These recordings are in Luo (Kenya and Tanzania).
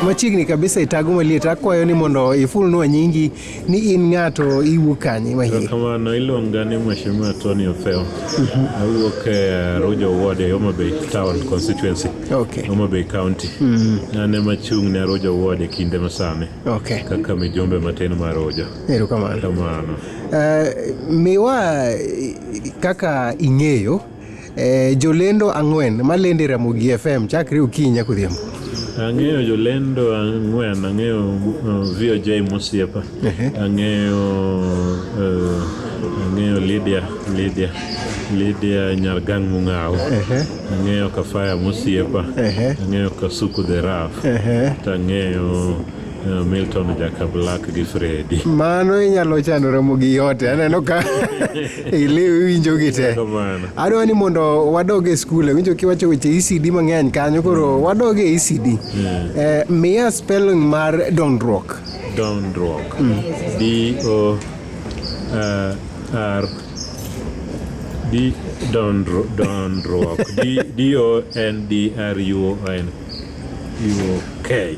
machiegni kabisa itago maliet akwayo ni mondo ifulnwa nyingi ni in ng'ato iwuok kanye mahie kamano iluonga ni mheshimiwa tony ofeo mhm. awuok e rujo ward e homa bay town constituency okay. homa bay county mm. an ema chung' ne rujo ward e kinde masani okay. kaka mijumbe matin mar rujo erokamano kamano uh, miwa kaka ing'eyo Eh, jolendo ang'wen malendo e Ramogi FM chakre okinyi nyaka odhiambo. Ang'eyo jolendo ang'wen, ang'eyo uh, VOJ Mosiepa, ang'eyo uh, ang'eyo Lydia Lydia Lydia Nyargang Mung'aw, ang'eyo Kafaya Mosiepa, ang'eyo Kasuku the Rough, to ang'eyo Eh, Milton Jakablak gi Fredi. Mano inyalo chano romo gi yote. Aneno ka iliw winjo gi te. Adwa ni mondo wadog e skul. Winjo kiwacho weche ECD mang'eny kanyo koro mm. wadog e ECD. Mm. Eh, miya spelling mar dondruok. Dondruok. Mm. D O eh, R D dondruok. D O N D R U O N U O K.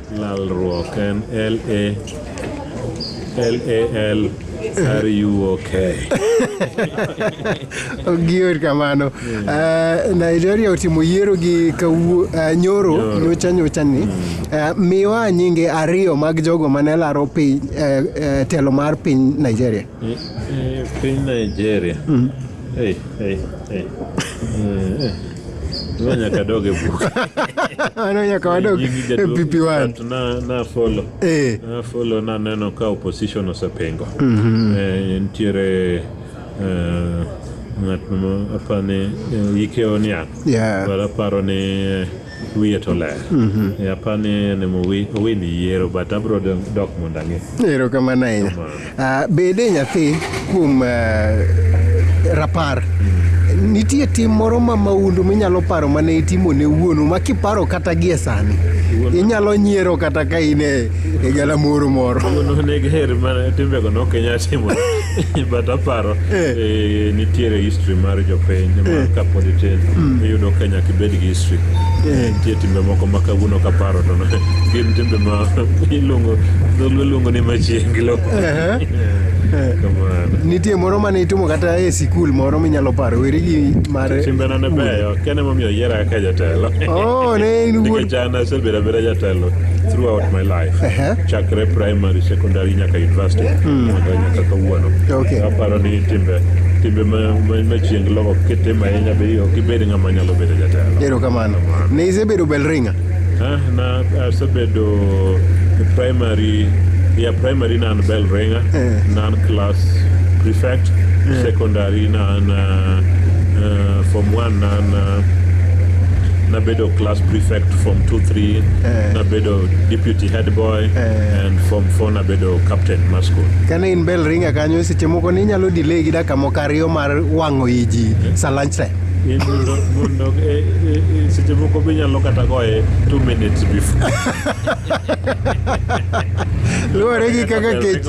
Lalruok en L A L A L R U O K. Ogior kamano. Eh, Nigeria otimo yiero gi kawuo eh, nyoro nyocha nyocha ni. Eh, Miwa nyinge ariyo mag jogo mane laro piny eh, eh, telo mar piny Nigeria. Piny Nigeria. Mm. Hey, hey, hey. Tuwa nyaka doge bu. Ano nyaka wadog PP1. Na, na follow. Eh. Na follow na neno ka opposition osepengo. Mm -hmm. Eh, ntiere eh, ng'at ma apani eh, yike oniang'. Yeah. But aparo ni eh, wiye to ler e apani ni mowi owini yiero but abro dong- dok mondo ang'e erokamano ahinya Ah, bede nyathi kuom ah, rapar nitie tim moro ma maundu minyalo paro mane itimo ne wuonu ma kiparo kata gie sani inyalo nyiero kata ka in e e galamoro moro Wuon onego her mana timbego ne ok inyal timo but aparo Eh. eh, nitiere history mar jopiny Eh. mar kapod itin Mm. iyudo ka nyaka ibed gi history Eh. nitie timbe moko ma kawuono kaparo to ne- gin timbe ma iluongo dholuo luongo ni machiengi lo Ehe. Eh. kamano nitie moro mane itimo kata e sikul moro minyalo paro weri gi mar timbena ne beyo kene momiyo oyiera kaka jatelo Oh, ne in wuod- Nikech an Nasebedo abeda jatelo throughout my life uh-huh. chakre primary secondary nyaka university mm. nyaka kawuono okay. aparo ni timbe timbe machieng logo kitimo ahinya be ok ibed ng'ama nyalo bedo jatelo erokamano ne isebedo belringa ah, na asebedo primary ya primary nan belringa eh. nan class prefect eh. secondary nan uh, uh, form 1 nan uh, nabedo class prefect form 2 3 eh. nabedo deputy head boy eh. and form 4 nabedo captain mar school kane in bell ringa kanyo seche moko ni inyalo delay gi dakika moko ariyo mar wang'o i ji eh. sa lunch time mondo eh, eh, seche moko be nyalo kata goye two minutes before luwore gi kaka kech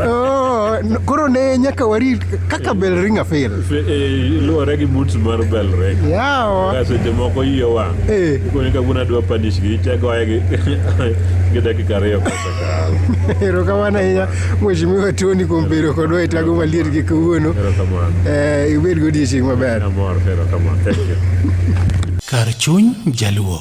oh, koro ne nyaka warit kaka bell ringa fail Eh, luwore gi mut mar bel rek yawa ka seche moko iye wang' Eh. ikoni ka wuon adwa panish gi ichagoye gi gi dakika ariyo kosekalo erokamano ahinya mheshimiwa tony kuom bedo kodwa e tago maliet gi kawuono erokamano Eh, ibed godiechieng' maber amor erokamano thank you Kar chuny Jaluo.